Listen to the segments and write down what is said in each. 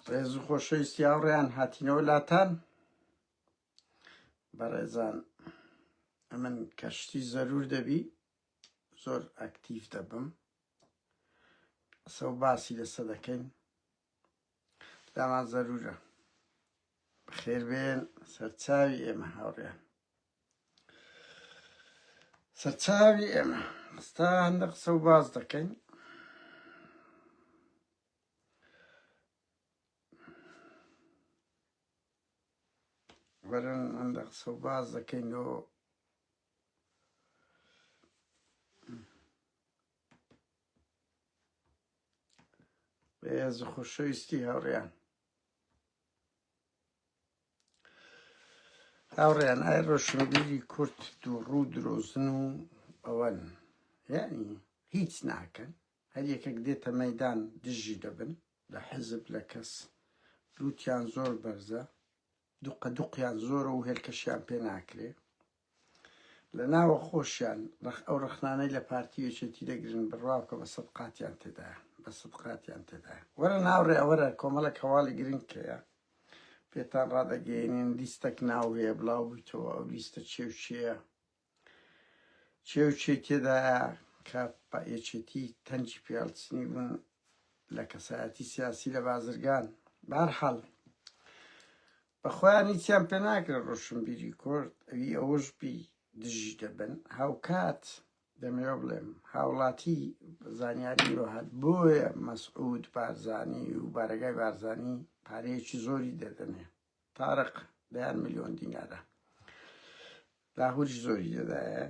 ڕێز و خۆشەویستی هاوڕێیان هاتینەوە لاتان بەڕێزان ئەمن کەشتی زەرور دەبی زۆر ئەکتیف دەبم سەو باسی لەسە دەکەین دامان زەرورە خێربێن سەرچاوی ئێمە هاوڕێن سەرچاوی ئێمە ئێستا هەندە قسە و باز دەکەین وەرن هەندە قسە و باز دەکەین و بەێز خوشەویستی هەڕیان هاوڕێیان ئای ڕۆشنبیری کورد دووڕوو درۆزن و ئەوەن یعنی هیچ ناکەن هەر یەکێک دێتە مەدان دژی دەبن لە حەزب لە کەس لووتیان زۆر بەرزە دوقە دوقیان زۆرە و هێلکەشیان پێ ناکرێ لە ناوە خۆشیان ڕەخ ئەو ڕەخنانەی لە پارتی و یەکێتی دەگرن بڕوا بکە بە سەد قاتیان تێدایە بە سەد قاتیان تێدایە وەرە ناوڕێ وەرە کۆمەڵێک هەواڵی گرنگ کەیە پێتان ڕادەگەیەنین لیستەک ناو هەیە بڵاو بوویتەوە ئەو لیستە چێ و چێە چێ و چێ تێدایە کە پا یەکێتی تەنجی پێڵچنی بوون لە کەسایەتی سیاسی لە بازرگان بارحاڵ بە خۆیان هیچیان پێ ناکرێت ڕۆشنبیری کورد ئەوی ئەوەش بی دژی دەبن هاوکات دەمەوێ بڵێم هاوڵاتی زانیاری بۆ هات بۆیە مەسعود بارزانی و بارەگای بارزانی پارەیەکی زۆری دەدەنێ تارق دەیان میلیۆن دینارە لاهوری زۆری دەدایە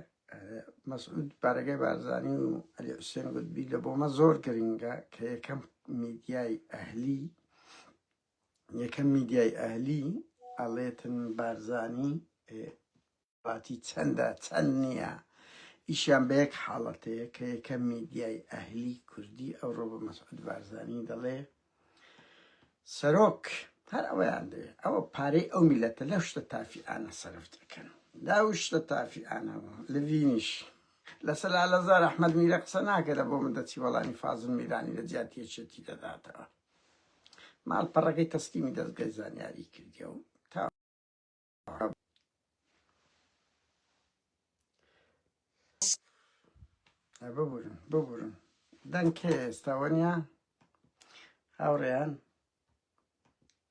مەسعود بارەگای بارزانی و ئەلی حوسێن گوتبی لە بۆمە زۆر گرنگە کە یەکەم میدیای ئەهلی یەکەم میدیای ئەهلی ئەڵێتن بارزانی پارتی چەندە چەند نییە ئیشیان بە یەک حاڵەتەیە کە یەکەم میدیای ئەهلی کوردی ئەوڕۆ بە مەسعود بارزانی دەڵێ سەرۆک هەر ئەوەیان دەوێ ئەوە پارەی ئەو میلەتە لەو شتە تافیانە سەرف دەکەن داو شتە تافیانەوە لە ڤینیش لە سەلالەزار ئەحمد میرە قسە ناکەێت بۆ من دەچی وەڵامی فازن میرانی لە جیاتی یەکێتی دەداتەوە ماڵپەڕەکەی تەسلیمی دەزگای زانیاری کردیە و تا ببورن ببورن دەنکێ ئێستاوەنیا هاوڕێیان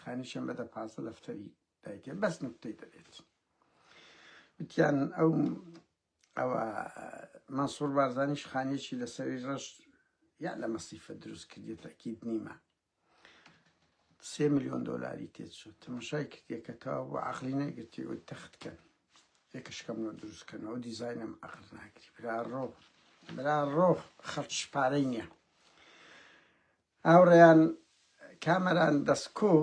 خانی شەمە دە پازدە دەفتەری دایکێ بەس نوکتەی دەبێت وتیان ئەو ئەوە مەسوور بارزانیش خانێکی لە سەری ڕەش یا لە مەسیفە دروست کردێت تاکیت نیمە سێ میلیۆن دۆلاری تێچوو تەمەشای کردێکەکەەوە بۆ عقلی نەگرتی و تەختکەن یەکەشکەم لە دروستکەنەوە دیزینم ئەقل ناکری برا ڕۆ برا ڕۆ خەڵ شپارەی نییە هاوڕێیان کامەران دەسکۆ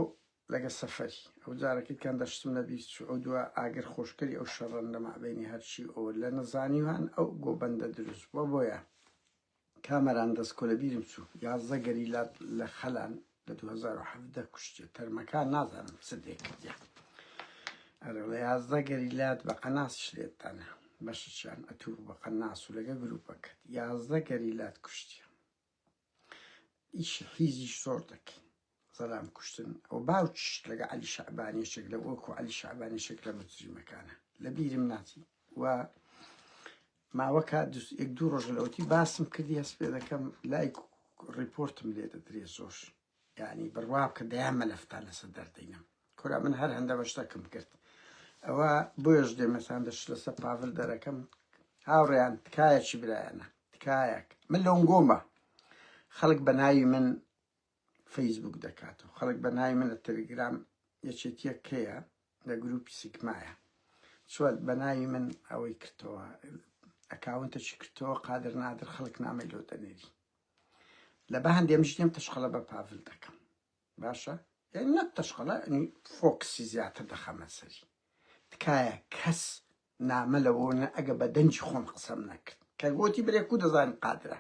لەگە سەفەری ئەو جارەکەی کان دەشتم لە بیر چوو ئەو دووە ئاگر خۆشکەری ئەو شەڕەن لە مابەینی هەرچی ئەو لە نەزانیوان ئەو گۆبەندە دروست بووە بۆیە کامەران دەسکۆ لە بیرم چوو یازدە گەریلا لە خەلان لە 2017 کوشتێ تەرمەکان نازانم چ دێ کردیان ئەرە لە یازدە گەریلات بە قەناس شلێتانە بەشەچیان ئەتوو بە قەناس و لەگە گروپەکەت یازدە گەریلات کوشتیان ئیشی حیزیش زۆر دەکەین سەدام کوشتن ئەو باوکیش لەگە علی شعبانیشێک لە وەکو علی شعبانیشێک لە مجریمەکانە لە بیرم ناچی و ماوەکە یەک دوو ڕۆژ لەوتی باسم کردی هەست پێ دەکەم لای ڕیپۆرتم لێ دەدرێ زۆر ینی بڕواب کە دەیان مەلەفتان لەسەر دەردەینم کورە من هەر هەندە بە شتەکم کرد ئەوە بۆیش دێمەسان دەش لەسە پاڤل دەرەکەم هاوڕێیان تکایەکی برایانە تکایەک من لۆنگۆمە خەڵک بە ناوی من فەیسبوک دەکات و خەڵک بە ناوی منە تەلگرام یەکێتیە کەیە لە گروپی سیکمایە چوەت بە ناوی من ئەوەی کردەوە ئەکاونتەکی کردەوە قادر نادر خەڵک نامی لۆ دەنێری لە بە هەندێ مشتێم تشخەڵە بە پاڤل دەکەم باشە یانی نەک تەشقەڵە ئەنی فۆکسی زیاتر دەخەمە سەری تکایە کەس نامە لەوە نە ئەگە بە دەنجی خۆم قسەم نەکرد کە گۆتی برێک و دەزانین قادرە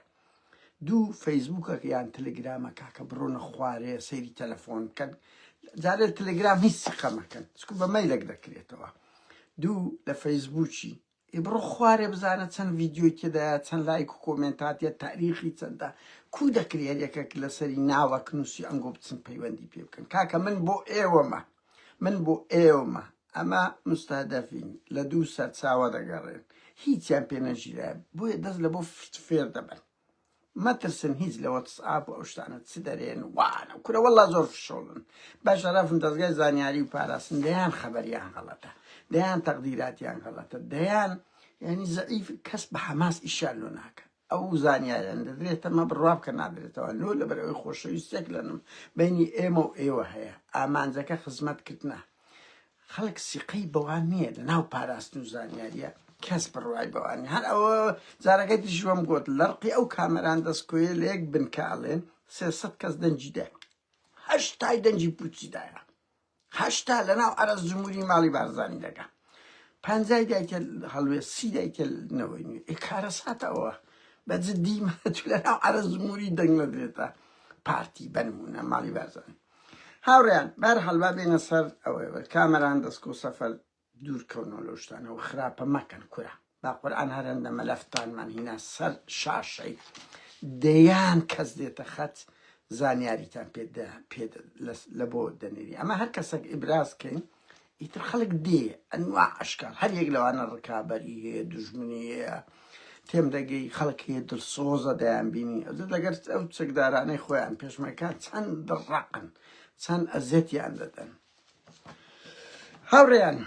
دوو فەیسبووکە یان تەلگرامە کاکە بڕۆنە خوارێ سەیری تەلەفۆن بکەن جارێ تەلگرام هیچ سقەمەکەن چکو بە مەیلەک دەکرێتەوە دوو لە فەیسبووکی ئێ بڕۆ خوارێ بزانە چەند ڤیدیۆی تێدایە چەند لایک و کۆمێنت هاتیە تاریخی چەندە کو دەکرێ هەر یەکێک لەسەری ناوەک نووسی ئەنگۆ بچن پەیوەندی پێ بکەن کاکە من بۆ ئێوەمە من بۆ ئێوەمە ئەمە مستهدەفین لە دوو سەرچاوە دەگەڕێن هیچیان پێ نەژیرە بۆیە دەست لە بۆ فت فێر دەبن مەترسن هیچ لە وەتسئاپ و ئەو شتانە چ دەرێن وانە کورە وەڵڵا زۆر فشەڵن بە شەرەفن دەزگای زانیاری و پاراستن دەیان خەبەریان غەڵەتە دەیان تەقدیراتیان غەڵەتە دەیان یعنی زعیف کەس بە حەماس ئیشیان لۆ ناکە ئەو زانیاریان دەدرێت تەمە بڕوا بکە نادرێتەوە لۆ لەبەر ئەوی خۆشەویستێک لەنم بینی ئێمە و ئێوە هەیە ئامانجەکە خزمەتکردنە خەڵک سیقەی بەوان نییە لە ناو پاراستن و زانیاریە کەس بڕوای بەوان نیە هەر ئەوە جارەکەی تریش وەم گوت لەرقی ئەو کامەران دەستکۆیە لە یەک بنکە ئەڵێن سێ سەد کەس دەنگی دا هەشتای دەنگی پوچی دایە هەشتا لە ناو عەرەز جمهوری ماڵی بارزانی دەگا پەنجای دایکە هەڵوێ سی دایکە نەوەی نوێ ئێ کارەساتەوە بە جدی مەتولە ناو عەرەز جمهوری دەنگ نەدرێتە پارتی بە نموونە ماڵی بارزانی هاوڕێیان بەرحال با بێنە سەر ئەوەوە کامەران دەستکۆ سەفەر دوور کەونەوە لەو شتانەوە خراپە مەکەن کورە با قورآن هەرەندە مەلەفتانمان هینا سەر شاشەی دەیان کەس دێتە خەت زانیاریتان پێ لە بۆ دەنێری ئەمە هەر کەسێک ئیبراز کەین ئیتر خەڵک دێ ئەنوا ئەشکال هەر یەک لەوانە ڕکابەری هەیە دوژمنی هەیە تێم دەگەی خەڵک هەیە دڵسۆزە دەیان بینی ئەو لەگەر ئەو چەکدارانەی خۆیان پێشمەکان چەند دڕقن چەند ئەزیەتیان دەدەن هاوڕێیان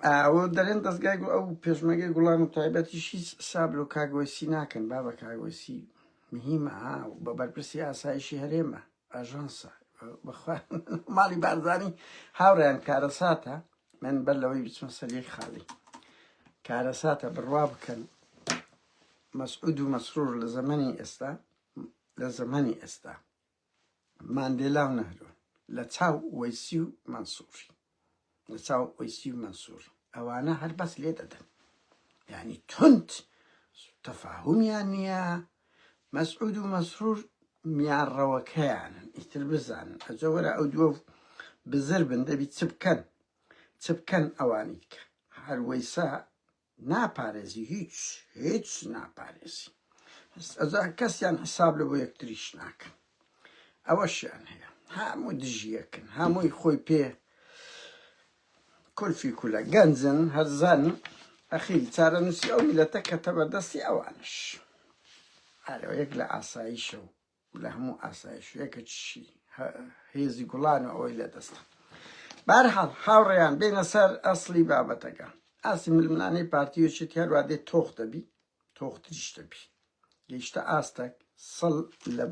ئەو دەرێن دەستگای گو ئەو پێشمەگەی گوڵان و تایبەتی هیچ سابلو کاگۆسی ناکەن با بە کاگۆسی مهمە و بە بەرپرسی ئاسایشی هەرێمە ئاژانسە بەخوا ماڵی بارزانی هاوڕیان کارەساتە من بەر لەوەی بچمە سەریەک خاڵی کارەساتە بڕوا بکەن مەسعود و مەسرور لە زەمەنی ئێستا لە زەمەنی ئێستا ماندێلا و نەهرۆن لە چاو وەیسی و مەنسوفی لە چاو وەیسی و مەنسور ئەوانە هەر بەس لێ دەدەن یعنی تند تەفاهمیان نییە مەسعود و مەسرور میانڕەوەکەیانن ئیتر بزانن ئەجە وەرە ئەو دووە بزر بن دەبی چ بکەن چ بکەن ئەوانی دیکە هەر وەیسا ناپارێزی هیچ هیچ ناپارێزی ئەزان کەسیان حساب لە بۆ یەکتریش ناکەن ئەوەشیان هەیە هەموو دژیەکن هەمووی خۆی پێ کورفی کولە گەنجن هەرزان ئەخیری چارە نووسی ئەو میلەتە کەتە بەردەستی ئەوانش هەرەوە یەک لە ئاساییشە و لە هەموو ئاسایشێکە چی هێزی گوڵان و ئەوەی لە دەستە بارحاڵ هاوڕێیان بێنە سەر ئەسلی بابەتەکە ئاسی ململانەی پارتی و چێتی هەروە دێت تۆخ دەبی تۆختریش دەبی گەیشتە ئاستەک سەڵ لە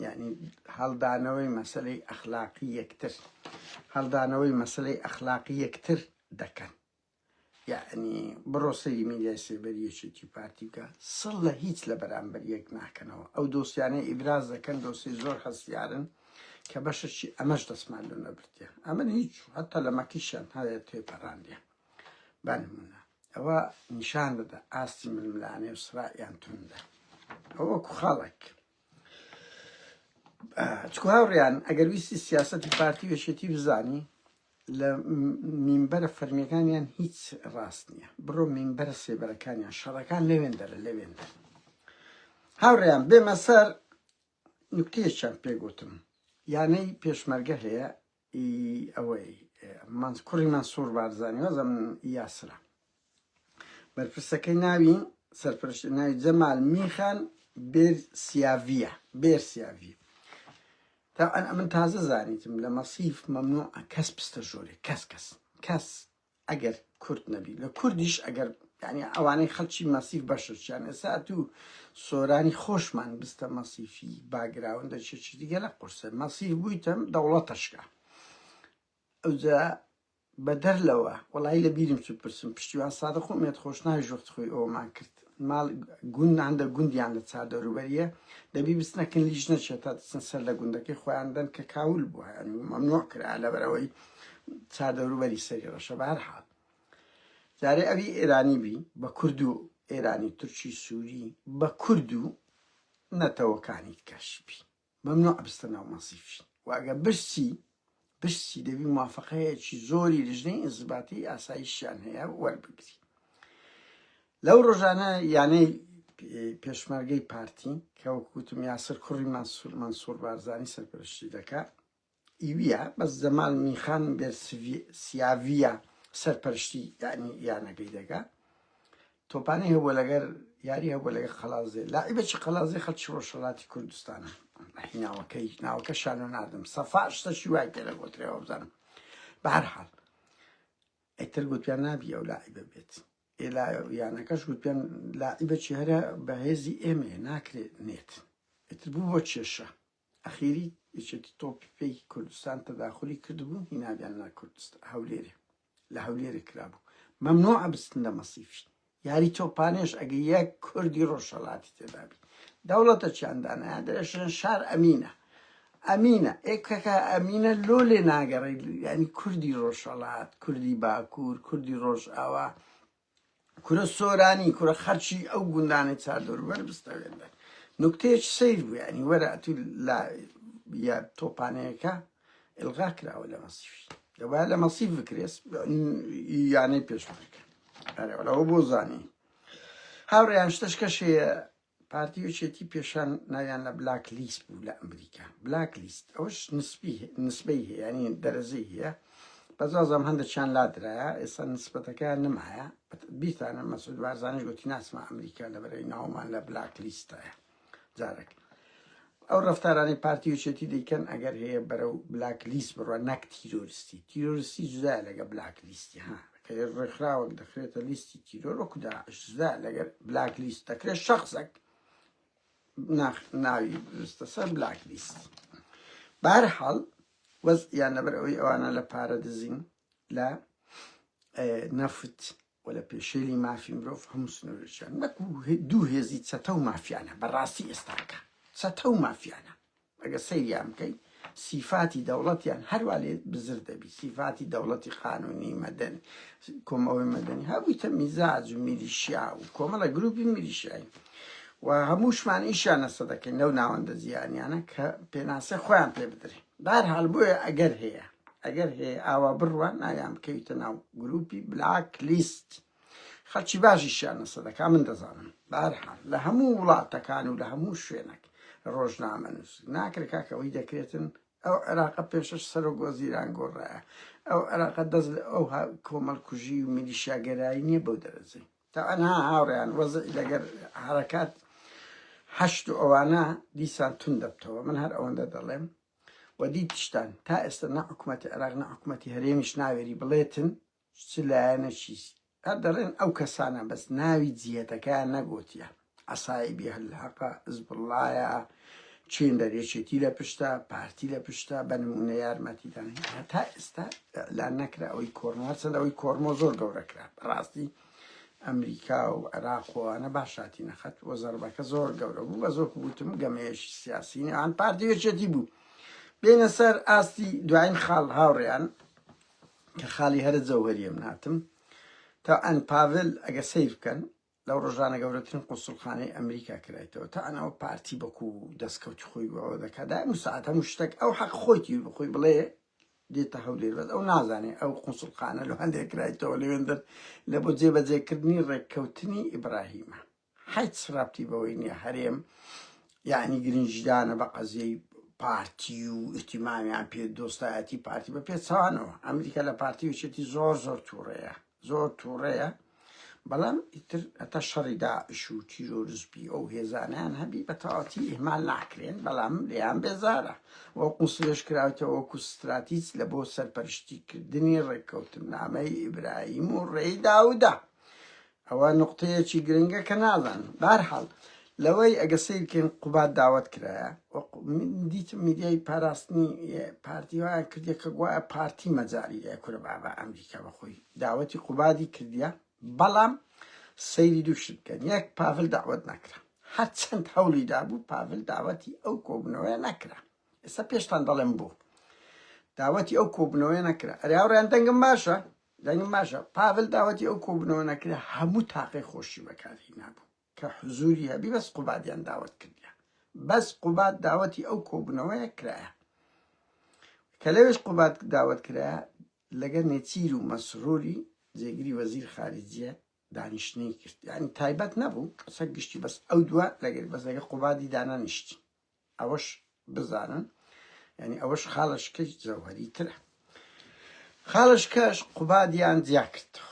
یعنی هەڵدانەوەی مەسلەی ئەخلاقی یەکتر هەڵدانەوەی مەسلەی ئەخلاقی یەکتر دەکەن یەعنی بڕۆ سەیری میدیای سێبەری یەکێتی پارتی بکە سڵ لە هیچ لە بەرامبەر یەک ناکەنەوە ئەو دۆسیانەی ئیبراز دەکەن دۆسی زۆر هەستیارن کە بەشەشی ئەمەش دەسمان لۆ نەبردیان ئەمن هیچ هەتا لە مەکیشان هەیە تێپەڕاندیان بانمونە ئەوە نیشان دەدا ئاستی ململانێ و سرائیان توندە ئەوە کوخاڵک چکو هاوڕیان ئەگەر ویستی سیاستی پارتی وێشێتی بزانی لە مینبەرە فەرمیەکانیان هیچ ڕاست نییە بڕۆ مینبەرە سێبەرەکانیان شەڕەکان لەوێن دەرە لەوێن دەر هاوڕیان بێمە سەر نکتێشان پێگوتم یانەی پێشمەرگە هەیە ی ئەوەی مەنس کوڕی مەنسوور بارزانی وازم یاسرە بەرپرسەکەی ناوی سەرپەرشتی ناوی جەمال میخان بێرسیاڤیە بێرسیاڤی طبعا ئەمن تازە زانیتم لە مەسیف مەمنوع کەس پستە ژۆرێ کەس کەس کەس ئەگەر کورد نەبی لە کوردیش ئەگەر یعنی ئەوانەی خەلکی مەسیف بەشەشیان ئێسا تو سۆرانی خۆشمان بستە مەسیفی باگراوندە چێکی دیگە لە قورسە مەسیف بوویتەم دەوڵەتەشکە ئەوجا بەدەر لەوە وڵی لە بیرم چ پرسم پشتیوان سادە خۆمێت خۆشناویش وەخت خۆی ئەومان کرد مال گوند هەندە گوندیان لە چا دەوروبەریە دەبی بچنە کن لیژ نەچێت تا دچن سەر لە گوندەکەی خۆیان دەن کە کاول بووە ینی مەمنوع کرا لە بەرەوەی چا دەوروبەری سەری ڕەشە بەهر حال جارێ ئەوی ئێرانی بی بە کورد و ئێرانی تورکی سووری بە کورد و نەتەوەکانی کەش بی مەمنوعە بچتە ناو مەسیفشین و ئەگەر بچی بچی دەبی موافقەیەکی زۆری لژنەی ئینزباتی ئاسایشیان هەیە وەربگری لەو ڕۆژانە یانەی پێشمەرگەی پارتی کە وەکوتم یاسر کوڕی مەسور مەسور بارزانی سەرپەرشتی دەکات ئیویا بەس زەمال میخان بێرسیاڤیا سەرپەرشتی یانی یانەکەی دەکا تۆپانی هەبووە لەگەر یاری هەبووە لەگەر قەلازێ لاعیبەکی قەلازێ خەڵکی ڕۆژهەڵاتی کوردستانە هیناوەکەی ناوەکە شانۆ ناردم سەفا شتەشی وای تێ لە گۆترەوە بزانم بە هەر حاڵ ئەتر گوتیان نابی ئەو لاعیبە بێت ئێلا یانەکەش گوتیان لاعیبەکی هەرە بەهێزی ئێمە ناکرێت نێت ئەتر بوو بۆ کێشە ئەخیری یەکێتی تۆپی پێی کوردستان تەداخولی کردبوو هینابیان نا کوردست هەولێرێ لە هەولێرێ کرابوو مەمنوع ئەبستن لە مەسیفی یاری تۆپانێش ئەگە یەک کوردی ڕۆژهەڵاتی تێدابی دەوڵەتە چیان دانایە درێژن شار ئەمینە ئەمینە ئێکەکە ئەمینە لۆ لێ ناگەڕی ینی کوردی ڕۆژهەڵات کوردی باکوور کوردی ڕۆژ ئاوا کورە سۆرانی کورە خەرکی ئەو گوندانەی چادر وەر بستەوێنە نکتەیەکی سەیر بوو یعنی وەرە ئەتوو لا یا تۆپانەیەەکە ئلغا کراوە لە مەسیف دەبا لە مەسیف بکرێس یانەی پێشمەرکە ئەرەوەەوە بۆ زانی هاوڕێیان شتەشکەشەیە پارتی یەکێتی پێشان ناویان لە بلاک لیست بوو لە ئەمریکا بلاک لیست ئەوش نسبی نسبەی هەیە یعنی دەرەجەی هەیە بەس وازم هەندێکیان لادرایە ئێستا نسبەتەکەیان نمایە بیرتانە مەسعود بارزانیش گوتی ناسمە ئەمریکا لە بەرەی ناومان لە بلاک لیستایە جارێک ئەو ڕەفتارانەی پارتی یەکێتی دەیکەن ئەگەر هەیە بەرەو بلاک لیست بڕوە نەک تیرۆرستی تیرۆرستی جودایە لەگە بلاک لیستی ها کە ڕێکخراوەک دەخرێتە لیستی تیرۆر وەکو داعش جودا لەگەر بلاک لیست دەکرێت شخصەک ناخ ناوی بستە سەر بلاک لیست بارحاڵ وەزیان لەبەر ئەوەی ئەوانە لە پارە دزین لە نەفت و لە پێشێلی مافی مرۆڤ هەموو سنوورەکیان نەک و دوو هێزی چەتە و مافیانە بە ڕاستی ئێستاکە چەتە و مافیانە ئەگەر سەیریان بکەین سیفاتی دەوڵەتیان هەروا لێ بزر دەبی سیفاتی دەوڵەتی قانونی مەدەن کۆمەوەی مەدەنی هەبوویتە میزاج و میلیشیا و کۆمەڵە گروپی میلیشیایی و هەمووشمان ئیشیان نەسە دەکەین لەو ناوەندە زیانیانە کە پێناسە خۆیان پێ بدرێن بەهەرحاڵ بۆیە ئەگەر هەیە ئەگەر هەیە ئاوا بڕوات ناویان بکەویتە ناو گروپی بلاک لیست خەڵکی باشیشیان لەسە دەکا من دەزانم بەهەرحاڵ لە هەموو وڵاتەکان و لە هەموو شوێنەک ڕۆژنامە نووس ناکرێت کاکەوەی دەکرێتن ئەو عێراقە پێشش سەرۆک وەزیران گۆڕایە ئەو عێراقە دەست لە ئەو کۆمەڵکوژی و میلیشیاگەرایی نییە بەو دەرەجەی تەعەنها هاوڕێیان وەزعی لەگەر حەرەکات حەشد و ئەوانە دیسان توند دەبتەوە من هەر ئەوەندە دەڵێم و دیتشتان تا ئێستا نە حکومەتی عێراق نە حکومەتی هەرێمیش ناوێری بڵێتن چ لایەنە چیست هەر دەڵێن ئەو کەسانە بەس ناوی جیهەتەکەیان نەگۆتیە عەسایبی الحەقە، حزبوڵڵایە، چین لە یەکێتی لە پشتە، پارتی لە پشتە، بە نموونە یارمەتیدان هەیە. هەتا ئێستا ئیعلان نەکرا ئەوەی کۆرمۆ هەرچەند ئەوەی کۆرمۆ زۆر گەورە کرا بەڕاستی ئەمریکا و عێراق و ئەوانە باش هاتی نەخەت و زەربەکە زۆر گەورە بوو بە زۆر وتم گەمەیەکی سیاسی نێوان پارتی و یەکێتی بوو. بێنە سەر ئاستی دوایین خاڵ هاوڕێیان کە خاڵی هەرە جەوهەریە مناتم تا ئەن پاڤل ئەگە سیر بکەن لەو ڕۆژانە گەورەترین قوسڵخانەی ئەمریکا کرایتەوە تا ئەناوە پارتی بەکو و دەستکەوتی خۆی بەوە دەکات دایم و ساعت هەموو شتێک ئەو حەق خۆیتی بخۆی بڵێ دێتە هەولێر بەس ئەو نازانێ ئەو قوسڵخانە لە هەندێک کرایتەوە لەوێندەر لە بۆ جێبەجێکردنی ڕێککەوتنی ئیبراهیمە حیچ ڕابتی بەوەی نیە هەرێم یعنی گرنجدانە بە قەزیەی پارتی و ئیتیمامیان پێ دۆستایەتی پارتی بە پێچوانەوە ئەمریکا لە پارتی وچێتی زۆر زۆر تووڕەیە زۆر توڕەیە بەڵام ئیتر هەتا شەڕی داعش و تیرۆرزبی ئەو هێزانیان هەبی بە تەواتی ئیهمال ناکرێن بەڵام لێیان بێزارە وە قوسلێش کراوتەوە وەکو ستراتیج لە بۆ سەرپەرشتیکردنی ڕێککەوتنامەی ئیبراهیم و ڕێی داودا ئەوە نقطەیەکی گرنگە کە نازان بارحاڵ لەوەی ئەگە سەیر کەین قوباد داوەت کرایە وەکو من دیتم میدیای پاراستنی پارتی وایان کردیە کە گوایە پارتی مەجاری ئێ کورە بابا ئەمریکا بەخۆی داوەتی قوبادی کردیە بەڵام سەیری دوو شت بکەن یەک پاڤل داوەت نەکرا هەرچەند هەوڵی دابوو پاڤل داوەتی ئەو کۆبنەوەیە نەکرا ئێستا پێشتان دەڵێم بوو داوەتی ئەو کۆبنەوەیە نەکرا ئەریاوڕیان دەنگم باشە دەنگم باشە پاڤل داوەتی ئەو کۆبنەوە نەکرا هەموو تاقی خۆشی بەکاری نابوو کە حزوری هەبی بەس قوبادیان داوەت کردیە بەس قوباد داوەتی ئەو کۆبونەوەیە کرایە کە لەوێش قوباد داوەت کرایە لەگە نێچیر و مەسروری جێگری وەزیر خارجیە دانیشتنی کرد یعنی تایبەت نەبوو قسە گشتی بەس ئەو دووە لەگەر بەس لەگە قوبادی دانانیشتی ئەوەش بزانن یعنی ئەوەش خاڵشکەی زەوهری ترە خاڵشکەش قوبادیان جیا کردەوە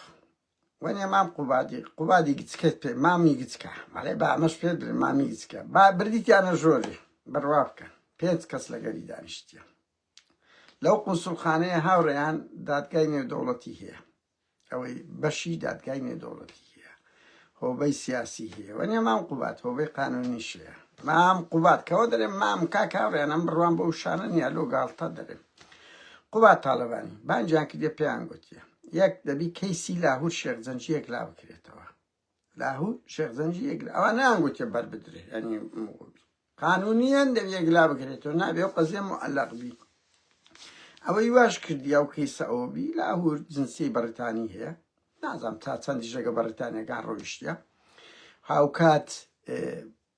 وەنێ مام قوبادی قوبادی گچکەت پێ مامی گچکە بەڵێ با ئەمەش پێت بلێ مامی گچکە با بردیتیانە ژۆری بڕوا بکە پێنج کەس لەگەری دانیشتیە لەو قونسولخانەیە هاوڕێیان دادگای نێودەوڵەتی هەیە ئەوەی بەشی دادگای نێودەوڵەتی هەیە هۆبەی سیاسی هەیە وەنێ مام قوبات هۆبەی قانونی شەیە مام قوبات کەەوە دەرێ مام کاک هاوڕێیان ئەم بڕوان بە وشانە نیە لۆ گاڵتە دەرێ قوبات تاالبانی بانجیان کردە پێیان گوتیە یەک دەبی کەیسی لاهور شێخ جەنجیەک لا بکرێتەوە لاهور شێخ جەنجی یەک ئەوە نانگوتێ بەر بدرێ ینی قانونیان دەبی یەک لا بکرێتەوە نابێ و قەزیە معلق بی ئەوەی واش کردیا و کەیسە ئەوە بی لاهور جنسی بەڕیتانی هەیە نازانم تا چەندی ژەگە بەڕیتانیەکان ڕۆیشتە هاوکات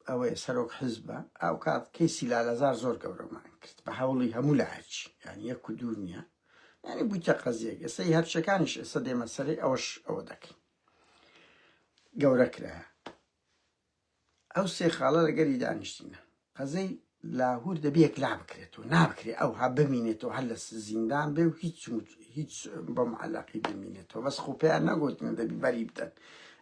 ئەوەیە سەرۆک حیزبە ئەوکات کەیسی لالەزار زۆر گەورەمان کرد بە هەوڵی هەموو لایەکی یانی یەک و دوور نییە یانی بوویتە قەزیەک ئێستا هی هەرچەکانیش ئێستا دێمە سەرێ ئەوەش ئەوە دەکەین گەورە کرایە ئەو سێ خاڵە لەگەری دانیشتینە قەزەی لاهور دەبێ یەکلا بکرێت و نابکرێ ئەوها بمینێت و هەر لە زیندان بێ و هیچ هیچ بە معلقی بمینێتەوە بەس خۆپیان نەگوتن دەبی بەری بدەن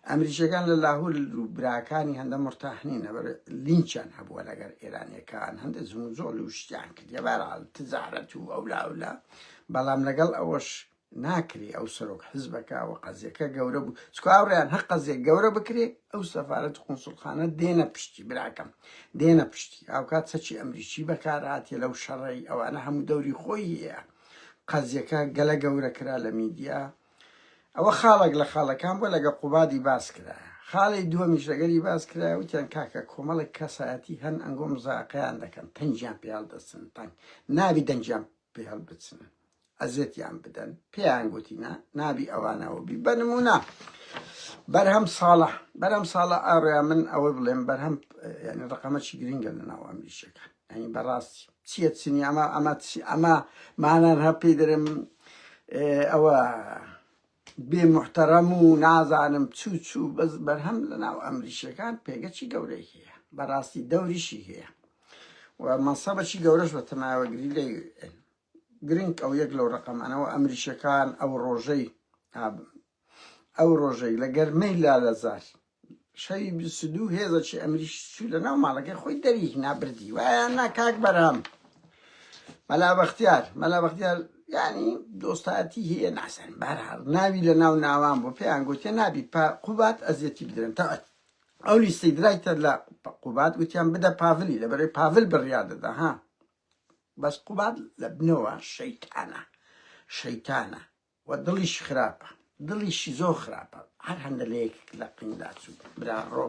ئەمریکیەکان لە لاهور و براکانی هەندە مرتاحنی نەبەر لینچیان هەبووە لەگەر ئێرانەکان هەندە زمو زۆڵ و شتیان کردە بەرال تجارەت و ئەولا ئەولا بەڵام لەگەڵ ئەوەش ناکری ئەو سەرۆک حزبەکە و قەزیەکە گەورە بوو چکو ئاوڕیان هەر قەزیە گەورە بکرێ ئەو سەفاەت قونسلخانە دێنە پشتی براکەم دێنە پشتی ئاوکات سەچی ئەمریکی بەکارهاتێ لەو شەڕی ئەوانە هەموو دەوری خۆی هەیە قەزیەکە گەلە گەورە کرا لە میدیا ئەوە خاڵک لە خاڵەکان بۆ لەگە قوبادی باس کرا خاڵی دووەمیش لەگەری باس کرا وتیان کاکە کۆمەڵک کەسایەتی هەن ئەنگۆم زاقیان دەکەن تەنجیان پیاڵ دەستن تەنگ نابی دەنجیان پێ هەڵبچن ئەزێتیان بدەن پێیان گوتی نا نابی ئەوانەوە بی بە نمونە بەرهەم ساڵە بەرەم ساڵە ئاڕیا من ئەوە بڵێم بەرهەم ینی ڕقەمەچی گرنگە لە ناو ئەمریشەکە ئەنی بەڕاستی چیە چنی ئەمە ئەمە ئەمە مانان هەپی دەرم ئەوە بێ موحتەرەم و نازانم چوو چوو بەس بەرهەم لەناو ئەمریشیەکان پێگەچی گەورەی هەیە بەراستی دەوریشی هەیە و مەسەبەکی گەورەش بە تەماوەگری لە گرنگ ئەو یەک لەو ڕقەمانەوە ئەمریشەکان ئەو ڕۆژەی ئەو ڕۆژەی لە گەرمەی لا لەزار شەوی بیست و دوو هێزەکی ئەمریکی چوو لە ناو ماڵەکەی خۆی دەری هینا بردی وایە نا کاک بەرهەم مەلا بەختیار مەلا بەختیار یعنی دۆستایەتی هەیە ناسەن بارهاڵ ناوی لە ناو ناوان بۆ پێیان گوتێ نابی پا قوبات ئەزیەتی بدرن تاعت ئەو لیستی درایتە لە قوبات گوتیان بدە پاڤلی لە بەرەی پاڤل بڕیا دەدا ها بەس قوبات لە بنەوە شەیتانە شەیتانە وە دڵیش خراپە دڵیشی زۆر خراپە هەر هەندە لە یەکێک لە قین داچوو برا ڕۆ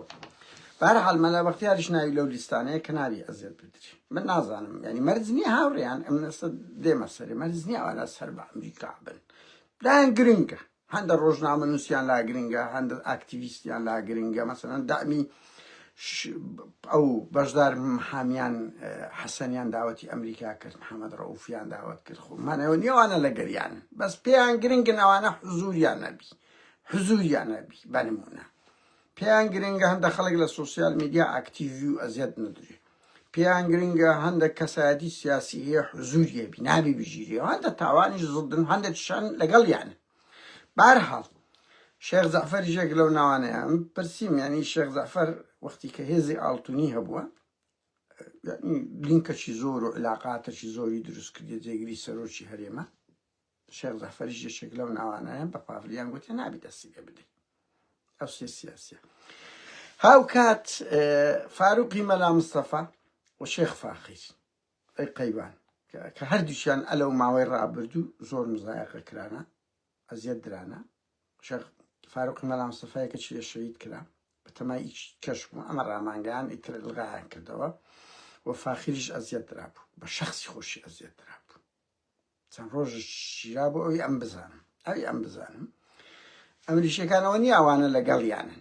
بارحال مەلا بەختیاریش ناوی لەو لیستانەیە کە نابی ئەزێت بدری من نازانم یعنی مەرج نییە هاوڕێیان ئەم نەسە دێمە سەری مەرج نییە ئەوانە سەر بە ئەمریکا بن لایەن گرنگە هەندە ڕۆژنامە نووسیان لا گرنگە هەندە ئاکتیویستیان لا گرنگە مەسەن دامی ئەو بەشدار حامیان حەسەنیان داوەتی ئەمریکا کرد محەممەد ڕەوفیان داوت کرد خۆ مانەوە نیێوانە لە گەریان بەس پێیان گرنگنەوانە حزوریان نەبی حزوریان نەبی بەنمونە پێیان گرنگە هەندە خەڵک لە سوسیال میدیا ئاکتیوی و ئەزیەت ندرێت پێیان گرنگە هەندە کەسایەتی سیاسی هەیە حزوریە بیناوی بژیری هەندە تاوانی زدن هەندە شان لەگەڵ یانە بەهەرحاڵ شێخ جەعفەریش یەک لەو ناوانەیە من پرسیم یانی شێخ جەعفەر وەختی کە هێزی ئاڵتونی هەبووە لینکەکی زۆر و علاقاتەکی زۆری دروست کردی جێگری سەرۆکی هەرێمە شێخ جەعفەریش یەکێک لەو ناوانەیە بە پاڤلیان گوتێ نابی دەستی لێ بدەیت ئەو سێ سیاسیە هاوکات فاروقی مەلا مستەفا و شێخ فاخیر ئەی قەیوان کە هەردووکیان ئە لەو ماوەی ڕابردوو زۆر مزایەقە کرانە ئەزیەت درانە شەخ فاروقی مەلا مستەفای کە چیە شەید کرا بەتەمای ئیچ کەش بوو ئەمە ڕامانگەیان ئیتر لغایان کردەوە و فاخریش ئەزیەت درابوو بە شخصی خۆشی ئەزیەت درابوو چەند ڕۆژ شیرا بۆ ئەوی ئەم بزانم ئەوی ئەم بزانم ئەمریشەکانەوە نیاوانە لەگەڵیانن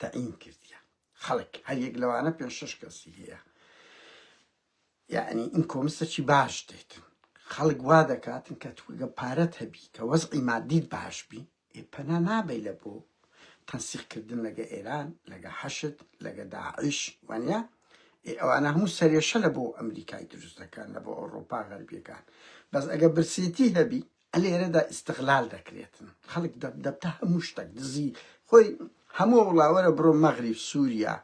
تەعین کردیە خەڵک هەر یەک لەوانە پێ شش کەسی هەیە یعنی ئین کۆمسەکی باش دێتن خەڵک وا دەکاتن کە توگە پارەت هەبی کە وەزعی مادیت باش بی پەنا نابی لە بۆ تەنسیقکردن لەگە ئێران لەگە حەشت لەگە داعش وانە ئەوانە هەموو سەرێشە لە بۆ ئەمریکای دروست دەکەن لە بۆ ئەوروپا غەربیەکان بەس ئەگە برسێتی هەبی ە لێرەدا ئیستغلال دەکرێتن خەڵک دەب دەب تە هەموو شتەک دزی خۆی هەموو وڵا وەرە بڕۆ مەغریب سووریا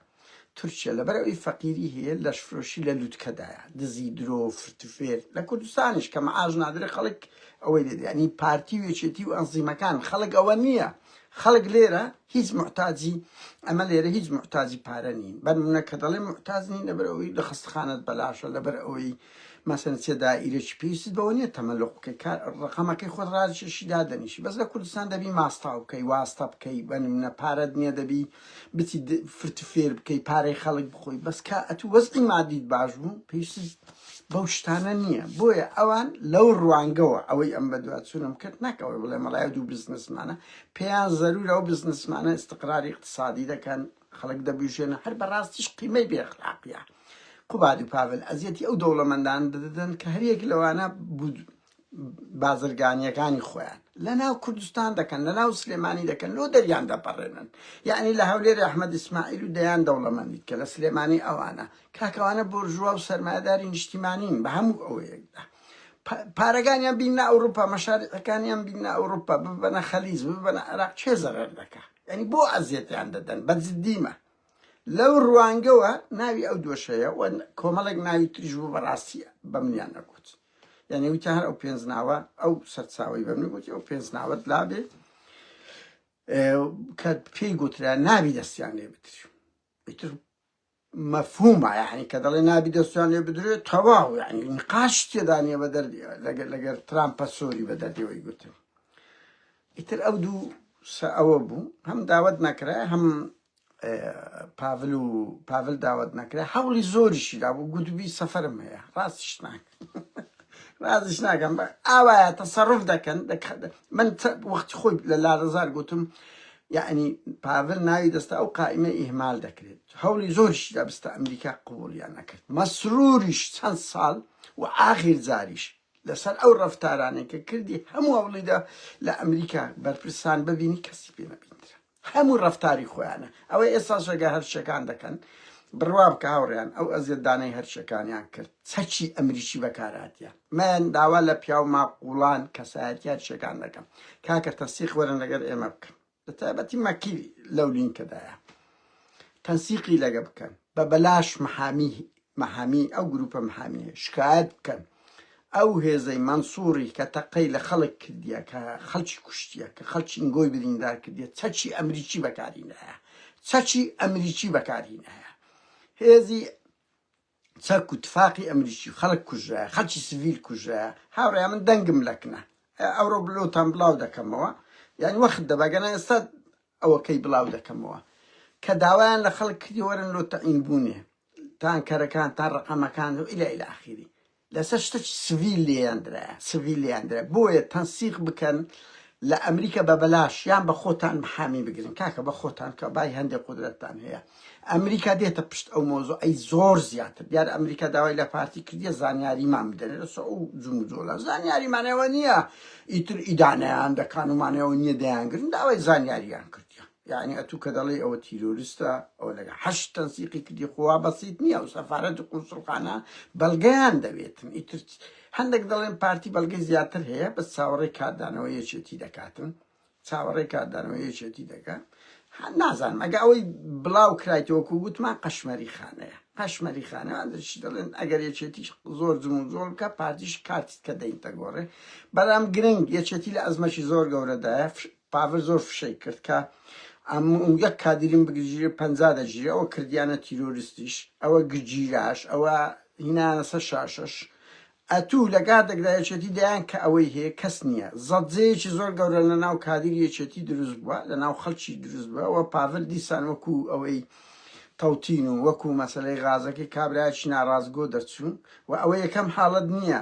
تورکیا لەبەر ئەوی فەقیری هەیە لەشفرۆشی لە لووتکەدایە دزی درۆ فرتوفێر لە کوردستانیش کە مەعاش نادرێ خەڵک ئەوەی لێ دەیان هی پارتی و یەکێتی و ئەنزیمەکان خەڵک ئەوە نییە خەڵک لێرە هیچ محتاجی ئەمە لێرە هیچ محتاجی پارە نین بەر منە کە دەڵێ محتاج نین لەبەر ئەوەی لە خەستخانەت بەلاشە لەبەر ئەوەی مەسەلەن چ دائیرەکی پێویستت بەوە نیە تەمەلوق بکەی کار ڕەقەمەکەی خۆت ڕاجێشی دادەنیشی بەس لە کوردستان دەبی ماستاو بکەی واستە بکەی بە نمونە پارەت نیە دەبی بچی د- فرت فێر بکەی پارەی خەڵک بخۆی بەس کە ئەتوو وەزعی مادیت باش بوو پێویستت بەو شتانە نییە بۆیە ئەوان لەو ڕوانگەوە ئەوەی ئەم بەدواچوونم کرد نەکەوەی بڵێ مەڵای دوو بزنسمانە پێیان زەرورە ئەو بزنسمانە استقراری اقتصادی دەکەن خەڵک دەبوژێنە هەر بەڕاستیش قیمەی بێ ئەخلاقیە قوبادی پاڤل ئەزیەتی ئەو دەوڵەمەندان دەدەن کە هەریەک لەوانە بازرگانیەکانی خۆیان لە ناو کوردستان دەکەن لە ناو سلێمانی دەکەن لۆ دەریان دەپەڕێنن یعنی لە هەولێر ئەحمد ئیسماعیل و دەیان دەوڵەمەندیت کە لە سلێمانی ئەوانە کاکەوانە بۆرژوا و سەرمایداری نیشتیمانین بە هەموو ئەوەیەکدا پارەکانیان بینە ئەوروپا مەشارەکانیان بینە ئەوروپا ببەنە خەلیز ببەنە عراق چێ زەرەر دەکات یعنی بۆ ئەزیەتیان دەدەن بە جدیمە لەو ڕوانگەوە ناوی ئەو دۆشەیە و کۆمەڵێک ناوی تریژ بوو بەڕاستیە بە منیان نەگوت یعنی وتە هەر ئەو پێنج ناوە ئەو سەرچاوی بە من گوتی ئەو پێنج ناوەت لابێ کە پێی گوترا ناوی دەستیان لێ بتر ئیتر مەفهومە یەعنی کە دەڵێ نابی دەستیان لێ بدرێ تەواو یەعنی نیقاش تێدا نیە بە دەر لەگەر لەگەر ترامپە سۆری بە دەردیەوەی گوتن ئیتر ئەو دوو سە ئەوە بوو هەم داوت نەکرا هەم پاڤل و پاڤل داوت نەکرا هەوڵی زۆریشی دابوو گوتبی سەفەرم هەیە ڕاستیش ناکرد رازیش ناکەم ئاوایە تەسەڕف دەکەن من وەختی خۆی لە لارەزار گوتم یعنی پاڤل ناوی دەستا ئەو قائمە ئیهمال دەکرێت هەولی زۆرشی دەبستە ئەمریکا قوڵیان نەکرد مەسروریش چەند ساڵ و ئاخیر جاریش لەسەر ئەو ڕفتارانێکە کردی هەموو هەوڵیدا لە ئەمریکا بەرپرسان ببینی کەسی پێ نەبینرا هەموو ڕەفتاری خۆیانە ئەوەی ئێستا ژەگە هەرچیەکان دەکەن بڕوابکە هاوڕێیان ئەو ئەزیەت دانەی هەرچیەکانیان کرد چەکی ئەمریکی بەکاراتیە مەن داوا لە پیاو ماقوڵان کەسایەتی هەرچیەکان دەکەم کاکە تەنسیق وەرن لەگەر ئێمە بکەن لە تایبەتی مەکی لەو لینکەدایە تەنسیقی لەگە بکەن بە بەلاش محامی محامی ئەو گروپە محامیە شکایەت بکەن ئەو هێزەی مەنسوری کە تەقەی لە خەڵک کردیە کە خەڵکی کوشتیە کە خەڵکی ئینگۆی بریندار کردیە چەکی ئەمریکی بەکارینایە چەکی ئەمریکی بەکارینایە هێزی چەک و تفاقی ئەمریکی خەڵک کوژە خەڵکی سڤیل کوژە هاوڕێ من دەنگم لەکنە ئەوڕۆ بلۆتان بڵاو دەکەمەوە یان وەخت دەبگەنە ئێستا ئەوەکەی بڵاو دەکەمەوە کە داوایان لە خەڵک کردی وەرن لۆتەئین بوونێ تانکەرەکان تا ڕەقەمەکان و الی الی اخیری لەسەر شتەکی سڤیل لێیان درایە سڤیل لێیان درایە بۆیە تەنسیق بکەن لە ئەمریکا بە بەلاش یان بە خۆتان محامی بگرن کاکە بە خۆتان کە بای هەندێک قودرەتتان هەیە ئەمریکا دێتە پشت ئەو مۆزۆ ئەی زۆر زیاتر دیار ئەمریکا داوای لە پارتی کردیە زانیاریمان بدەن لەسە ئەو جموجۆلا زانیاریمانەوە نییە ئیتر ئیدانەیان دەکان ومانەوە نییە دەیانگرن داوای زانیاریان کردیان یەعنی ئەتوو کە دەڵێی ئەوە تیرۆرستە ئەوە لەگەڵ حەشد تەنسیقی کردی خۆ وا بەسیت نییە و سەفارەت و قونسوڵخانە بەڵگەیان دەوێتن ئیتر هەندێک دەڵێن پارتی بەڵگەی زیاتر هەیە بەس چاوەڕێی کاردانەوە یەکێتی دەکاتن چاوەڕێی کاردانەوە یەکێتی دەکات هە- نازانم ئەگە ئەوەی بڵاو کرایتەوەکو وتمان قەشمەری خانەیە قەشمەری خانەوان دەچ دەڵێن ئەگەر یەکێتیش زۆر جم و جۆڵ بکە پارتیش کارتیت کە دەینتە گۆڕێ بەڵام گرنگ یەکێتی لە ئەزمەکی زۆر گەورەدایە فش- پاڤل زۆر فشەی کرد کە ئەم و یەک کادیرم بگرژیرێ پەنجا دەگیرێ ئەوە کردیانە تیرۆرستیش ئەوە گرجیراش ئەوە هینانە سەر شاشەش ئەتوو لە گادێکدا یەکێتی دەیان کە ئەوەی هەیە کەس نییە زەجەیەکی زۆر گەورە لە ناو کادیر یەکێتی دروست بووە لە ناو خەڵکی دروست بووە پاڤل دیسان وەکوو ئەوەی تەوتین و وەکو مەسەلەی غازەکەی کابرایەکی ناڕاستگۆ دەرچوو و ئەوە یەکەم حاڵەت نییە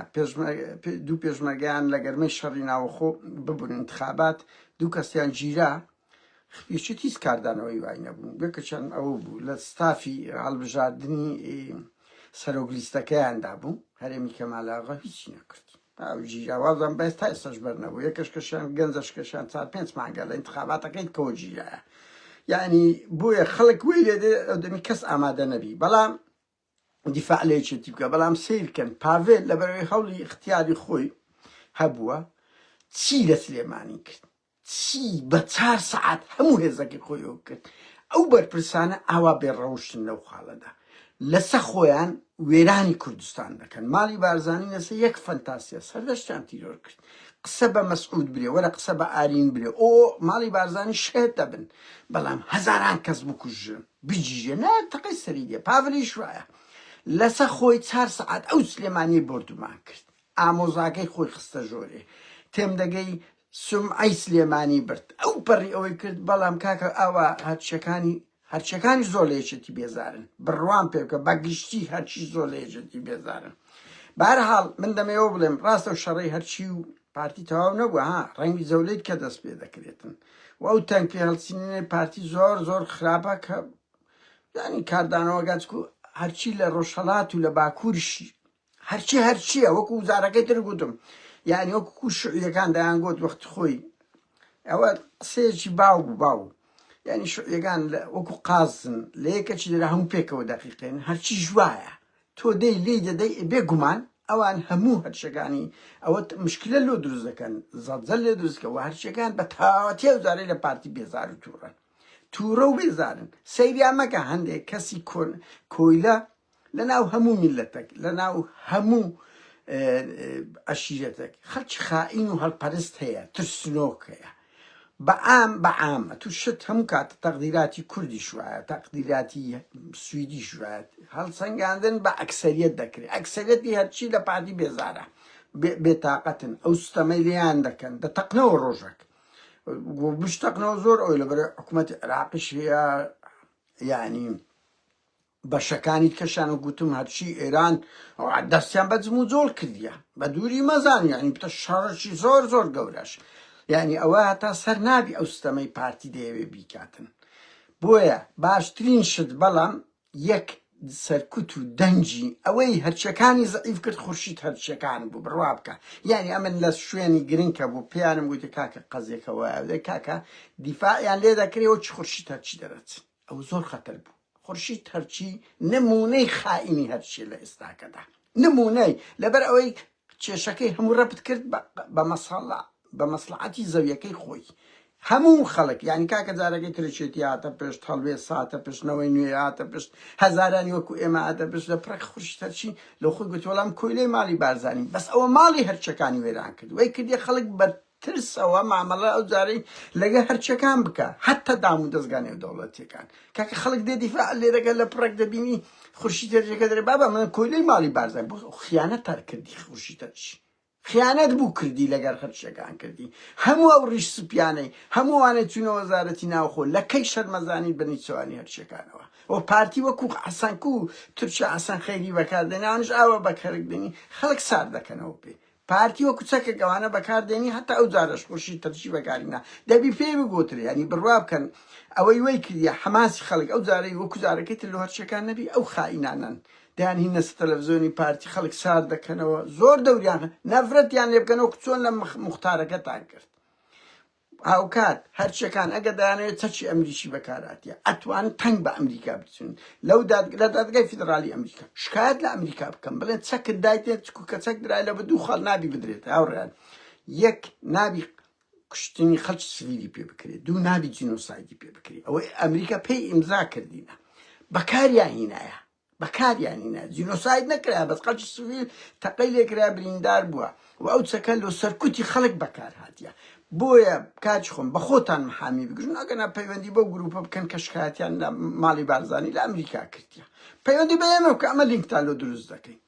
دوو پێشمەرگەیان لە گەرمەی شەڕی ناوەخۆ ببن انتخابات دوو کەسیان گیرا خپیشت هیچ کاردانەوەی وای نەبوو بێکەچەند ئەوە بوو لە ستافی هەڵبژاردنی سەرۆک لیستەکەیاندا بوو هەرێمی کەمالاغا هیچی نەکردی ئەو جیاوازە بەس تا ئێستاش بەر نەبوو یەکەش کەشیان گەنجەش کەشیان چار پێنج مانگە لە انتخاباتەکەی کۆجیە یعنی بۆیە خەڵک وی لێ دێ ئەو دەمی کەس ئامادە نەبی بەڵام دیفاع لێ چێتی بکە بەڵام سیرکەن پاڤێل لەبەرەوەی هەوڵی اختیاری خۆی هەبووە چی لە سلێمانی کرد چی بە چار سەعات هەموو هێزەکەی خۆی ئەوە کرد ئەو بەرپرسانە ئاوا بێ ڕەوشتن لەو خاڵەدا لەسە خۆیان وێرانی کوردستان دەکەن ماڵی بارزانی لەسە یەک فەنتاسیە سەردەشتیان تیرۆر کرد قسە بە مەسعود برێ وەرە قسە بە ئارین برێ ئۆ ماڵی بارزانی شێت دەبن بەڵام هەزاران کەس بکوژن بجیژێ نە تەقەی سەری دێ پاڤلیش وایە لەسە خۆی چار سەعات ئەو سلێمانی بردومان کرد ئامۆزاکەی خۆی خستە ژۆرێ تێم دەگەی سومعەی سلێمانی برد ئەو پەڕی ئەوەی کرد بەڵام کاکە ئاوا هەرچیەکانی هەرچەکانی زۆر لە یەکێتی بێزارن بڕوام پێ بکە بە گشتی هەرچی زۆر لە یەکێتی بێزارن بارحاڵ من دەمەوە بڵێم ڕاستە و شەڕی هەرچی و پارتی تەواو نەبووە ها ڕەنگی زەولێت کە دەست پێ دەکرێتن و ئەو تەنگ پێ هەڵسینێ پارتی زۆر زۆر خراپە کە ینی کاردانەوەگەچکو هەرچی لە ڕۆژهڵات و لە باکوورش هەرچی هەرچییە وەکو وزارەکەی تر گوتم یعنی وەکو شعیەکان دەیان گوت وەخت خۆی ئەوە قسەیەکی باو بوو باو یعنی شعیەکان وەکو قازن لە یەکەچی دەرا هەموو پێکەوە دەقیقێن هەرچی ژوایە تۆ دەی لی دەدەی بێگومان ئەوان هەموو هەرچەکانی ئەوە مشکلە لۆ دروست دەکەن زەڵزەل لێ دروستکەوە هەرچەکان بە تاوەتێ و زارەی لە پارتی بێزار و تووڕە تووڕە و بێزارن سەیریا مەکە هەندێک کەسی کۆن کۆیلە لە ناو هەموو میللەتەک، لە ناو هەموو عەشیرەتەک خەڵکی خائین و هەلپەرست هەیە، ترسنۆک هەیە. بە عام بە عام ئەتوو شت هەموو کات تەقدیراتی کوردیش وایە، تەقدیراتی سویدیش وایە، هەڵسەنگاندن بە ئەکسەریەت دەکرێ، ئەکسەریەتی هەرچی لە پارتی بێزارە، بێتاقەتن، ئەو ستەمەی لێیان دەکەن دەتەقنەوە ڕۆژەک و بشتەقنەوە زۆر ئەوی لەبەر حکوومەتی عێراقیش هەیە، یانی بەشەکانی کەشان و گوتم هەرچی ئێران ئەوان دەستیان بە جموجۆڵ کردیە بە دووری مەزان یانی بتە شەڕەشی زۆر زۆر گەورەش یعنی ئەوە هەتا سەر نابی ئەو ستەمەی پارتی دەیەوێ بیکاتن بۆیە باشترین شت بەڵام یەک سەرکوت و دەنگی ئەوەی هەرچەکانی زعیف کرد خورشید هەرچەکان بوو بڕوا بکە یعنی ئەمن لە شوێنی گرنگکە بوو پێیانم گوتی کاکە قەزێکەوە کاکە دیفاعیان لێ دەکرێەوە چ خورشید هەرچی دەرەچن ئەو زۆر خەتەر بوو خورشید هەرچی نموونەی خائینی هەرچیە لە ئێستاکەدا نموونەی لەبەر ئەوەی کێشەکەی هەموو ڕەپت کرد بە مەسەڵە بە مەسلعاتی زەویەکەی خۆی هەموو خەڵک یعنی کاکە جارەکەی ترشێتی هاتە پێشت هەڵوێ ساتە پشتنەوەی نوێ هاتە پشت هەزارانی وەکو ئێمە هاتە پشت لە پرەک خوشتەرچی لە خۆی گوتۆڵام کۆیلەی ماڵی بارزانانی بەس ئەوە ماڵی هەرچەکانی وێران کرد وەی کردی خەڵک بە ترسەوە مامەڵە ئەو جارەی لەگە هەرچەکان بکە هەتە دام و دەستگا نێودەوڵەتیەکان کاکە خەڵک دێ دیفاع لێ دەکە لە پڕێک دەبینی خورشی تێرجەکە دەێ بابا من کۆیلەی ماڵی بارزای بۆ خیانەت تار کردی خورشی تەرچ خیانەت بوو کردی لەگەر هەرچەکان کردی هەموو ئەو ڕیش سپیانەی هەمووانە چونە وەزارەتی ناوخۆ لە کەی شەرمەزانی بەنیچوانی هەرچەکانەوە و پارتی وەکو حەسەنکو تورکیا حەسەن خەیری بەکاردێنانش ئاوە بەکەرک دێنی خەڵک سار دەکەنەوە پێ پارتی وەکو چەکێک ئەوانە بەکاردێنی هەتا ئەو جارەش خورشید ترشی بەکاری نا دەبی پێی بگوترێ یانی بروا بکەن ئەوەی وەی کردیە حەماسی خەڵک ئەو جارەی وەکو جارەکەی تر لۆ هەر شتێکان نەبی ئەو خائینانەن دەیان هینە سە تەلەفزۆنی پارتی خەڵک سارد دەکەنەوە زۆر دەوریان نەفرەتیان لێ بکەنەوە کچۆن لە مختارەکەتان کرد هاوکات هەرچیەکان ئەگەر دەیانەوێت چەکی ئەمریکی بەکاراتیە ئەتوان تەنگ بە ئەمریکا بچن لەو داد لە دادگای فیدرالی ئەمریکا شکایەت لە ئەمریکا بکەم بڵێن چەکت دایتێت چکو کە چەک درای لە بە دوو خاڵ نابی بدرێت هاوڕیان یەک نابی کوشتنی خەڵکی سڤیلی پێ بکرێت دوو نابی جینۆسایدی پێ بکرێت ئەوەی ئەمریکا پێی ئیمزا کردینە بەکاریان هینایە بەکاریان هینا جینۆساید نەکرا بەس خەلکی سڤیل تەقەی لێکرا بریندار بوە و ئەو چەکە لۆ سەرکوتی خەلک بەکار هاتیە بۆیە کاکی خۆم بەخۆتان محامی بگژن ئەگەنا پەیوەندی بەو گروپە بکەن کە شکاتیان لە ماڵی بارزانی لە ئەمریکا کردیە پەیوەندی بە ئێمە بکە ئەمە لینکتان لۆ دروست دەکەین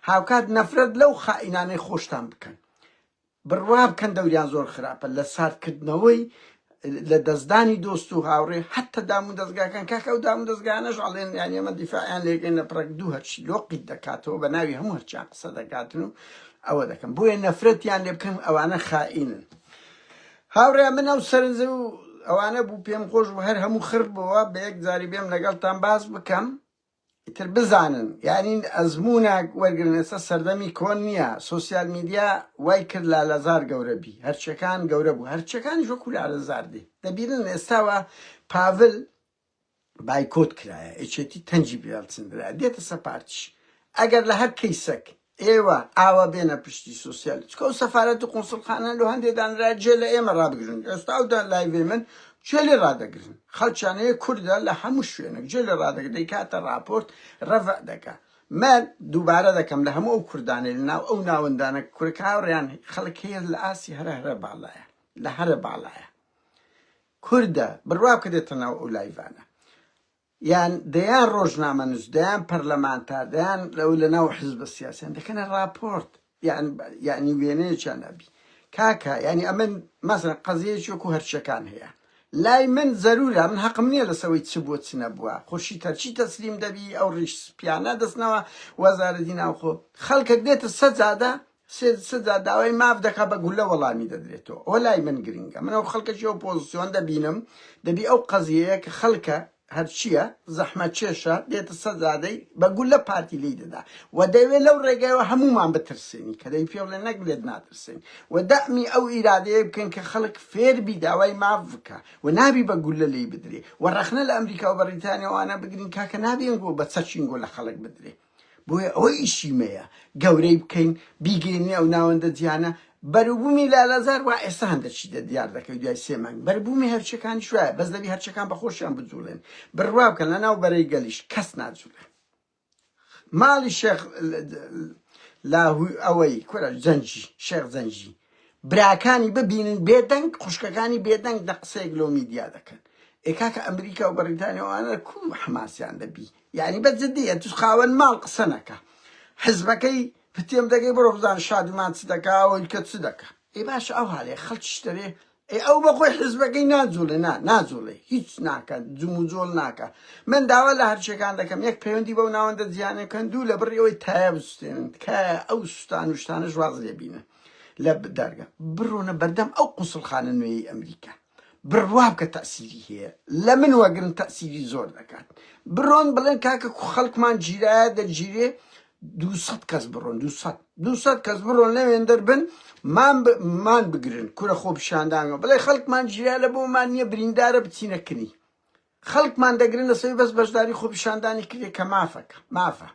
هاوکات نەفرەت لەو خائینانەی خۆشتان بکەن بڕوا بکەن دەوریان زۆر خراپە لە سارد کردنەوەی لە دەستدانی دۆست و هاوڕێ حەتە دام و دەزگاکان کاکە ئەو دام و دەزگانەش ئەڵێن یان ئێمە دیفاعیان لێگەن لە پڕک دوو هەرچی لۆقیت دەکاتەوە بە ناوی هەموو هەرچیان قسە دەکاتن و ئەوە دەکەم بۆیە نەفرەتیان لێ بکەم ئەوانە خائینن هاوڕێ من ئەو سەرنجە و ئەوانە بوو پێم خۆش بوو هەر هەموو خڕ بووە بە یەک جاری بێم لەگەڵتان باس بکەم ئیتر بزانن یانی ئەزموونە وەرگرن ئێستا سەردەمی کۆن نییە سۆسیال میدیا وای کرد لالەزار گەورە بی هەرچەکان گەورە بوو هەرچەکانیش وەکو لالەزار دێ دەبینن ئێستاوە پاڤل بایکۆت کرایە ئێچێتی تەنجی بێڵچندرا دێتە سەر پارتیش ئەگەر لە هەر کەیسەک ئێوە ئاوا بێنە پشتی سوسیال چکە و سەفارەت و قونسڵخانە لۆ هەندێ دانرا جێ لە ئێمە ڕابگرن ئێستا و دان لایڤێ من چێ لێ ڕادەگرن خەڵچانەیە کوردە لە هەموو شوێنێک جێ لە ڕادەگر دەیکاتە ڕاپۆرت ڕەڤ دەکە من دووبارە دەکەم لە هەموو ئەو کوردانێ لە ناو ئەو ناوەندانە کورک هاوڕیان خەڵک هەیە لە ئاسی هەرە هەرە باڵایە لە هەرە باڵایە کوردە بڕوا کە دێتە ناو ئەو لایڤانە یان دەیان ڕۆژنامەنووس، دەیان پەرلەمانتار، دەیان لەو لەناو حزبە سیاسیان دەکەنە ڕاپۆرت، یان یانی وێنەیەکیان ئەبی کاکە یانی ئەمە مەسەلەن قەزیەیەکی وەکوو هەرچیەکان هەیە لای من زەروورە من هەقم نییە لەسەر ئەوەی چ بووە چ نەبووە خورشید هەرچی تەسلیم دەبی ئەو ڕیش سپیانە دەستنەوە وەزارەتی ناوخۆ خەڵکەک دێتە سەجادە سێ سێ جار داوای ماف دەکات بە گولە وەڵامی دەدرێتەوە ئەوە لای من گرنگە من ئەو خەڵکەشی ئەو پۆزسیۆن دەبینم دەبی ئەو قەزیەیە کە خەڵکە هەرچییە زەحمەت چێشە دێتە سەزادەی بە گولە پارتی لی دەدا و دەوێت لەو ڕێگایەوە هەمومان بترسێنی کە دەی پێڵێ نەک لێت ناترسێن و دەمی ئەو ئیرادەیە بکەن کە خەڵک فێربی داوای ماف بکە و نابی بە گولە لی بدرێ و ڕەخنە لە ئەمریکا و بەڕیتانیاوانە بگرین کاکە نابێن گۆ بە چەچین گۆ لە خەڵک بدرێ بۆیە ئەوەیشی مەیە گەورەی بکەین بیگەینی ئەو ناوەندە جیانە بەروبوومی لالەزار وا ئێستا هەندە چی دە دیار دەکەی دوای سێ مانگ بەربوومی هەرچەکانی شوایە بەس دەبی هەرچەکان بە خۆشیان بجوڵێن بڕوا بکەن لە ناو بەرەی گەلیش کەس ناجوڵێ ماڵی شێخ لاهوی ئەوەی کورە جەنجی شێخ جەنجی براکانی ببینن بێدەنگ خوشکەکانی بێدەنگ دە قسەیەک لۆ میدیا دەکەن ئێکاکە ئەمریکا و بەڕیتانیاوانە کو حماسیان دەبی یانی بە جدی ئەتوش خاوەن ماڵ قسە نەکە حزبەکەی پتێم دەگەی بڕۆ بزان شادومان چ دەکا ئەویکە چ دەکا ئێ باشە ئەو هەالەیە خەڵکیش دەوێ ئێ ئەو بە خۆی حزبەکەی ناجوڵێ نا ناجوڵێ هیچ ناکە جموجۆڵ ناکە من داوا لە هەرچیەکان دەکەم یەک پەیوەندی بەو ناوەندە جیانەکەن دوو لە بڕی ئەوەی تایە بسوتێنن تکایە ئەو سوستان و شتانەش واز لێ بینن لە دەرگە بڕۆنە بەردەم ئەو قوسڵخانە نوێی ئەمریکا بڕوابکە تەئسیری هەیە لەمن وەگرن تەئسیری زۆر دەکات بڕۆن بڵێن کاکە کو خەڵکمان گیرایە دەگیرێ دووسەد کەس بڕۆن دووسەد دووسەد کەس بڕۆن لەوێن دەربن مان ب- مان بگرن کورە خۆ پیشاندانگە بڵێ خەڵکمان گیرا لە بۆمان نییە بریندارە بچینە کنی خەڵکمان دەگرن لەسەوی بەس بەشداری خۆ پیشاندانی کردێ کە مافەکە مافە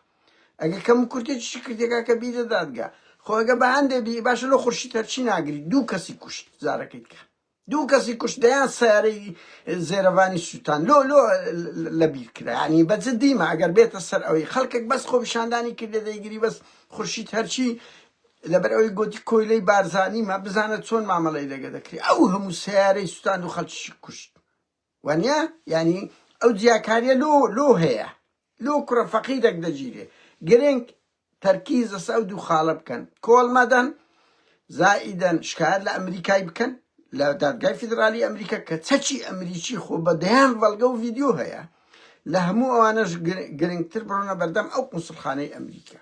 ئەگە کەم کورتێکی کردێکا کە بیدە دادگا خۆ ئەگە بە هەندێ بی باشە لە خورشی تەرچی ناگری دوو کەسی کوشت زارەکەیت کە دوو کەسی کوشت دەیان سەیارەی زێرەڤانی سوتان لۆ لۆ لەبیر کرا یانی بە جدیمە ئەگەر بێتە سەر ئەوەی خەڵکێک بەس خۆپیشاندانی کردە دەیگری بەس خورشید هەرچی لەبەر ئەوەی گوتی کۆیلەی بارزانیمە بزانە چۆن مامەڵەی لەگە دەکری ئەو هەموو سەیارەی سوتان و خەڵکیشی کوشت وانیە یانی ئەو جیاکاریە لۆ لۆ هەیە لۆ کوڕە فەقیرەک دەگیرێ گرنگ تەرکیز لەسە ئەو دوو خاڵە بکەن کۆڵ مەدەن زائیدەن شکایەت لە ئەمریکای بکەن لە دادگای فیدرالی ئەمریکا کە چەکی ئەمریکی خۆ بە دەیان بەڵگە و ڤیدیۆ هەیە لە هەموو ئەوانەش گرنگتر بڕۆنە بەردەم ئەو قونسڵخانەی ئەمریکا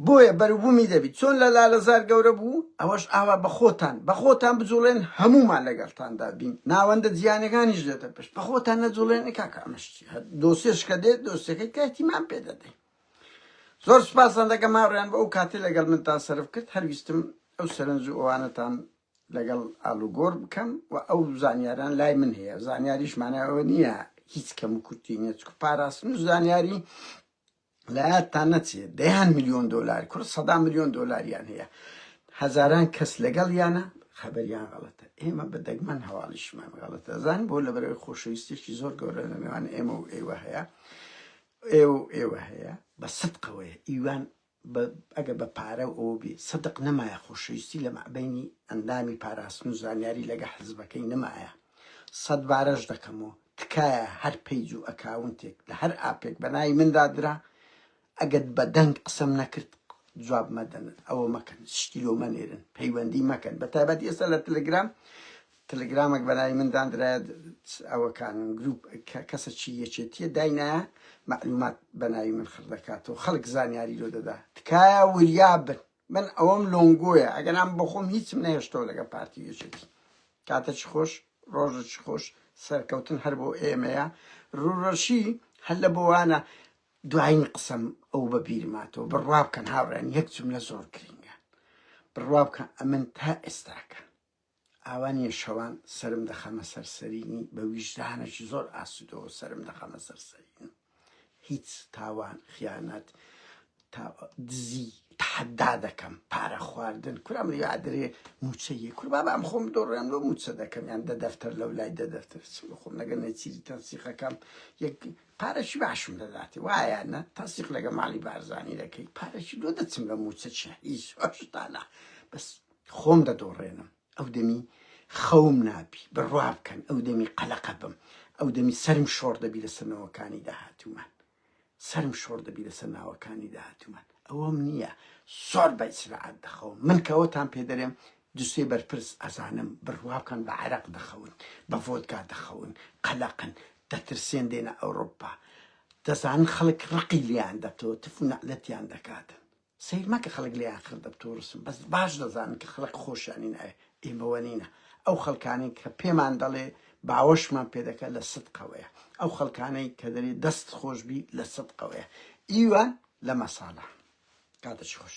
بۆیە بەروبومی دەبیت چۆن لە لالەزار گەورە بوو ئەوەش ئاوا بەخۆتان بەخۆتان بجوڵێن هەموومان لەگەڵتاندا بین ناوەندە جیهانیەکانیش دێتە پشت بەخۆتان نەجوڵێن کاک ئەمەش چی هەر دۆسێش کە دێت دۆسێکەی کاتیمان پێ دەدەین زۆر سپاسان دەکەم ماڕیان بۆ ئەو کاتی لەگەڵ منتان سەرف کرد هەرویستم ئەو سەرنج و ئەوانەتان لەگەڵ ئالوگۆر بکەم و ئەو زانیاران لای من هەیە زانیاریش مانایەوە نییە هیچ کەم و کورتی نیە چکو پاراستن و زانیاری لەیادتان نەچێ دەیان ملیۆن دۆلار کورد سەدا ملیۆن دۆلاریان هەیە هەزاران کەس لەگەڵیانە خەبەریان غەڵەتە ئێمە بە دەگمەن هەواڵیشمان غەڵەتە زان بۆ لە بەرەوەی خۆشەویستێکی زۆر گەورە لە نێوان ئێمە و ئێوە هەیە ئێوە و ئێوە هەیە بە سەدقەوەیە ئیوان ئەگە بە پارە و ئەو بێ سەدق نەمایە خۆشەویستی لە مەعبینی ئەندامی پاراستن و زانیاری لەگە حزبەکەی نەمایە سەد بارەش دەکەمەوە تکایە هەر پەیج و ئەکاونتێک لە هەر ئاپێک بە ناوی من دادرا ئەگەر بە دەنگ قسەم نەکرد جواب مەدەن ئەوە مەکەن شتی لۆ مەنێرن پەیوەندی مەکەن بە تایبەت ئێستا لە تلگرام تلگرامێک بە ناوی من دادرایە ئەوەکان گروپ کەسە چی یەکێتیە داینایە معلومات بە ناوی من خڕ دەکاتەوە خەڵک زانیاری لۆ دەدا تکایە وریابن من ئەوەم لۆنگۆیە ئەگەر ئەم بۆخۆم هیچم نەهێشتەوە لەگە پارتی یەکێتی کاتە چ خۆش ڕۆژە چ خۆش سەرکەوتن هەر بۆ ئێمەیە ڕوڕەشی هەر لە بۆوانە دوایین قسەم ئەو بە بیرماتەوە بڕوا بکەن هاوڕێن یەک جملە زۆر گرنگە بڕوا بکە ئەمن تا ئێستاکە ئاوا نیە شەوان سەرم دەخەمە سەر سەرینی بە ویژدانەکی زۆر ئاسودەوە سەرم دەخەمە سەر سەرین هیچ تاوان خیانەت تا دزی تحدا دەکەم پارە خواردن کورام لە یادرێ موچەیە کوربابا ئەم خۆم دۆڕێن لۆ موچە دەکەم یان دە دەفتەر لەو لای دە دەفتەر خۆم لەگەر نەچیری تەنسیقەکەم یەک پارەشی باشم دەداتێ وایە نە تەنسیق لەگە ماڵی بارزانانی دەکەی پارەشی لۆ دەچم لە موچە چ هیچ هۆشتانە بەس خۆم دەدۆڕێنم ئەو دەمی خەوم نابی بڕوا بکەن ئەو دەمی قەلەقە بم ئەو دەمی سرم شۆڕ دەبی لە سنەوەکانی داهاتومان سرم شۆڕ دەبی لە سەرناوەکانی داهاتومان ئەوەم نییە زۆر بە ئیسراعات دەخەوم من کەەوەتان پێ دەرێم دوسێ بەرپرس ئەزانم بڕوا بکەن بە عراق دەخەون بە ڤۆدگا دەخەون قەلەقن دەترسێن دێنە ئەوروپا دەزانن خەڵک ڕقی لیان دەتەوە تف و نەعلەتیان دەکاتن سەیر مەکە خەڵک لێ ئاخر دەبت و رسم بەس باش دەزانن کە خەڵک خۆشیانی ناوێ ئیمە وەنینە ئەو خەڵکانەی کە پێمان دەڵێ باوەشمان پێ دەکە لە سد قەوەیە ئەو خەڵکانەی کە دەرێ دەست خۆش بی لە سد قەوەیە ئیوە لە مەسالە کاتەچ خۆش.